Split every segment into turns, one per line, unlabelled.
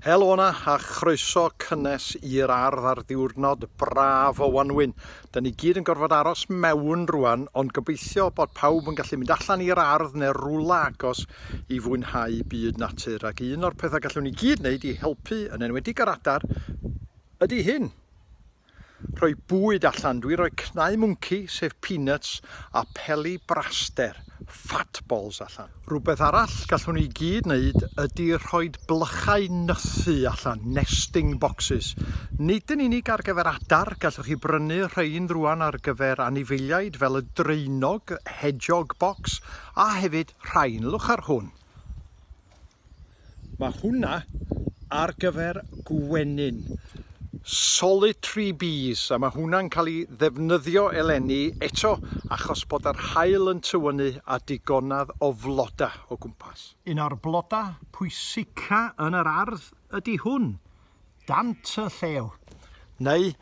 Helo yna a chroeso cynnes i'r ardd ar ddiwrnod braf o wanwyn. Da ni gyd yn gorfod aros mewn rwan, ond gobeithio bod pawb yn gallu mynd allan i'r ardd neu rwla agos i fwynhau byd natur. Ac un o'r pethau gallwn ni gyd wneud i helpu, yn enwedig ar adar, ydy hyn. Rhoi bwyd allan, dwi roi cnau mwnci, sef peanuts, a peli braster, fat balls, allan. Rhywbeth arall gallwn ni gyd wneud ydi rhoi blychau nythu allan, nesting boxes. Nid yn unig ar gyfer adar, gallwch chi brynu rhein rwan ar gyfer anifeiliaid fel y draenog, hedgehog box, a hefyd rhain, lwch ar hwn. Mae hwnna ar gyfer gwenyn. Solitary bees, a mae hwnna'n cael ei ddefnyddio eleni eto achos bod yr haul yn tywynnu a digonedd o flodau o gwmpas. Un o'r blodau pwysica yn yr ardd ydy hwn. dant y llew. Neu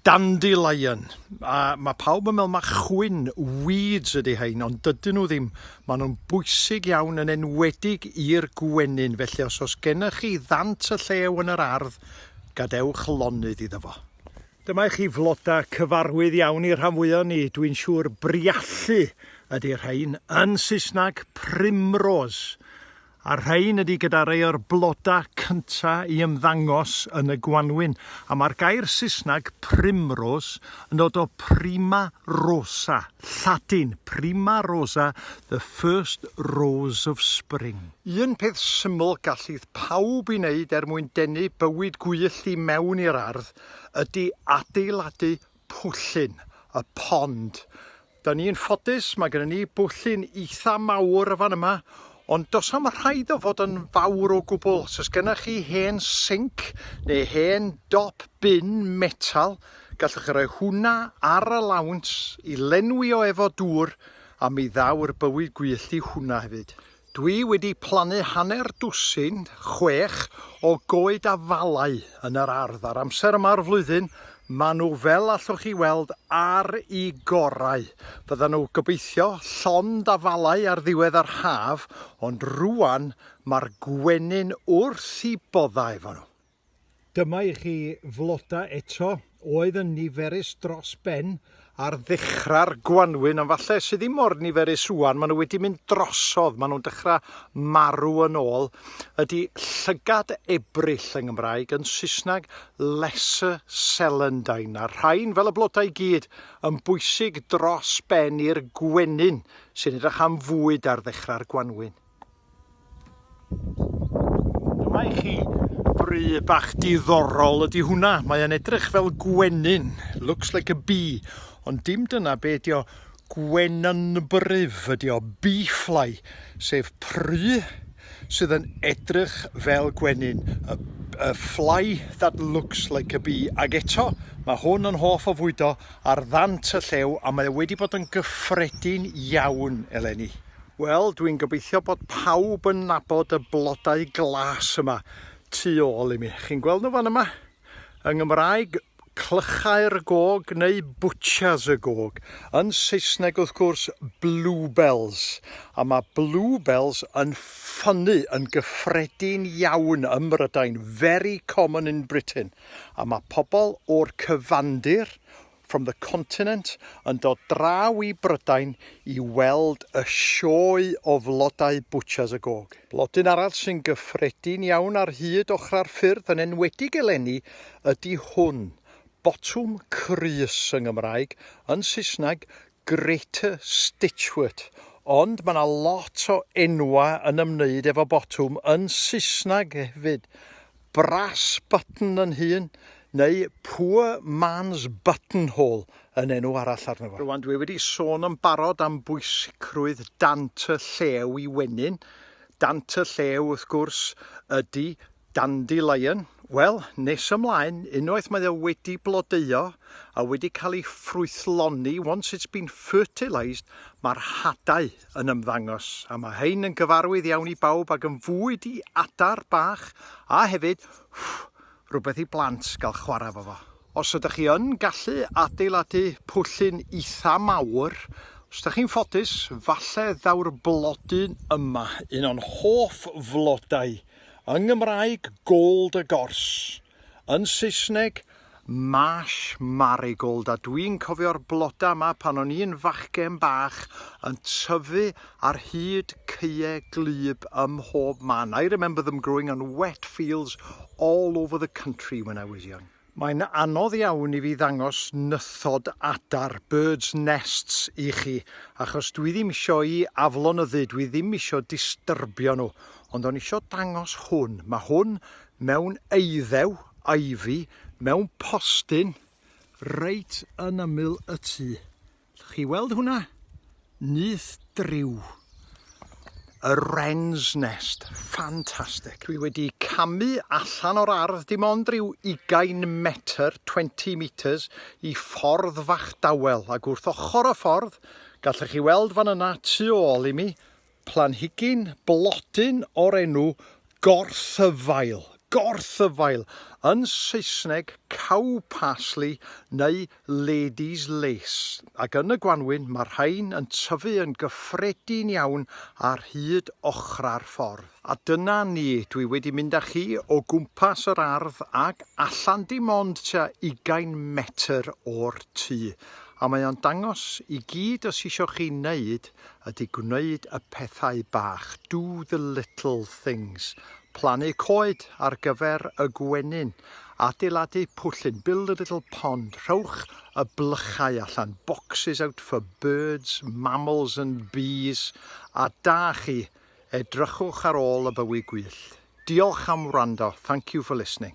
dandelion. A mae pawb yn meddwl mae chwyn, weeds ydy hein, ond dydyn nhw ddim. Maen nhw'n bwysig iawn yn enwedig i'r gwenyn, felly os oes gennych chi ddant y llew yn yr ardd, gadewch lonydd iddo fo. Dyma i chi flodau cyfarwydd iawn i'r rhan fwyaf ni, dwi'n siŵr briallu ydy'r rhain, yn Saesneg primrose. A'r rhain ydy gyda rei o'r bloda cynta i ymddangos yn y gwanwyn, a mae'r gair Saesneg primrose yn dod o prima rosa, Lladin, prima rosa, the first rose of spring. Un peth syml gallith pawb i wneud er mwyn denu bywyd gwyllt i mewn i'r ardd ydy adeiladu pwllyn, a pond, Da ni'n ffodus, mae gennym ni bwllyn eitha mawr y fan yma, ond does am rhaid o fod yn fawr o gwbl. Os oes gennych chi hen sinc neu hen dop bin metal, gallwch chi roi hwnna ar y lawnt i lenwi o efo dŵr a mi ddaw'r bywyd gwyllt i hwnna hefyd. Dwi wedi plannu hanner dwsin, chwech, o goed afalau yn yr ardd a'r amser yma o'r flwyddyn maen nhw fel allwch chi weld ar i gorau. Fyddan nhw gobeithio llond afalau ar ddiwedd yr haf ond rwan mae'r gwenyn wrth i boddau efo nhw. Dyma i chi floda eto, oedd yn niferus dros ben ar ddechrau'r gwanwyn, ond falle sydd ddim mor niferus rwan, maen nhw wedi mynd drosodd, maen nhw'n dechrau marw yn ôl. Ydy llygad ebryll yng Nghymraeg, yn Saesneg lesser celandine. Mae'r rhain, fel y blodau i gyd, yn bwysig dros ben i'r gwenyn sy'n edrych am fwyd ar ddechrau'r gwanwyn. Dyma i chi bry bach diddorol ydy hwnna. Mae o'n edrych fel gwenyn. Looks like a bee. Ond dim dyna be ydy o. Gwenynbryf ydy o. Bee fly. Sef pry sydd yn edrych fel gwenyn. A, a fly that looks like a bee. Ac eto, mae hwn yn hoff o fwydo ar ddant y llew a mae wedi bod yn gyffredin iawn eleni. Wel, dwi'n gobeithio bod pawb yn nabod y blodau glas yma tu ôl i mi. Chi'n gweld nhw fan yma? Yng Ngymraeg, clychau'r gog neu bwtsias y gog. Yn Saesneg, wrth gwrs, bluebells. A mae bluebells yn ffynnu yn gyffredin iawn ym Mhrydain, very common in Britain. A mae pobl o'r cyfandir, from the continent yn dod draw i Brydain i weld y sioe o flodau Butcher's a Gog. Blodyn arall sy'n gyffredin iawn ar hyd ochrau'r ffyrdd, yn enwedig eleni, ydy hwn, botwm crys yng Ngymraeg, yn Saesneg, Greater Stitchwort ond mae yna lot o enwau yn ymwneud efo botwm yn Saesneg hefyd, brass button yn hun neu poor man's buttonhole yn enw arall arno fo. Rwan dwi wedi sôn yn barod am bwysicrwydd dant y llew i wenyn, dant y llew wrth gwrs ydi Dandelion, wel, nes ymlaen, unwaith mae o wedi blodeuo a wedi cael ei ffrwythloni, once it's been fertilised, mae'r hadau yn ymddangos, a mae hein yn gyfarwydd iawn i bawb ac yn fwyd i adar bach a hefyd, ffff, rhywbeth i blant gael chwarae fo fo. Os ydych chi yn gallu adeiladu pwllyn eitha mawr, os ydych chi'n ffodus, falle ddaw'r blodyn yma, un o'n hoff flodau Yng Nghymraeg, gold a gorse. Yn Saesneg, marsh marigold a dwi'n cofio'r bloda yma pan o'n i'n fachgen bach yn tyfu ar hyd caeau gwlyb ym mhob man. I remember them growing on wet fields all over the country when I was young. Mae'n anodd iawn i fi ddangos nythod adar, birds nests, i chi, achos dwi ddim isio i aflonyddu, dwi ddim isio disturbio nhw, ond o'n isio dangos hwn. Mae hwn mewn eiddew, ivy, mewn postyn, reit yn ymyl y tŷ. Allwch chi weld hwnna? Nyth driw. Y wren's nest. Ffantastig. Dwi wedi camu allan o'r ardd dim ond rhyw 20 metr, 20 metres, i ffordd fach dawel. Ac wrth ochr y ffordd, gallwch chi weld fan yna tu ôl i mi, planhigyn blodyn o'r enw gorthyfail, gorthyfail, yn Saesneg cow parsley neu lady's lace, ac yn y gwanwyn mae'r rhain yn tyfu yn gyffredin iawn ar hyd ochrau'r ffordd. A dyna ni, dwi wedi mynd â chi o gwmpas yr ardd ac allan dim ond tua ugain metr o'r tŷ, a mae o'n dangos i gyd os isio chi wneud ydy gwneud y pethau bach, do the little things, plannu coed ar gyfer y gwenyn, adeiladu pwllyn, build a little pond, rhowch y blychau allan, boxes out for birds, mammals and bees, a da chi, edrychwch ar ôl y bywy gwyllt. Diolch am wrando, thank you for listening.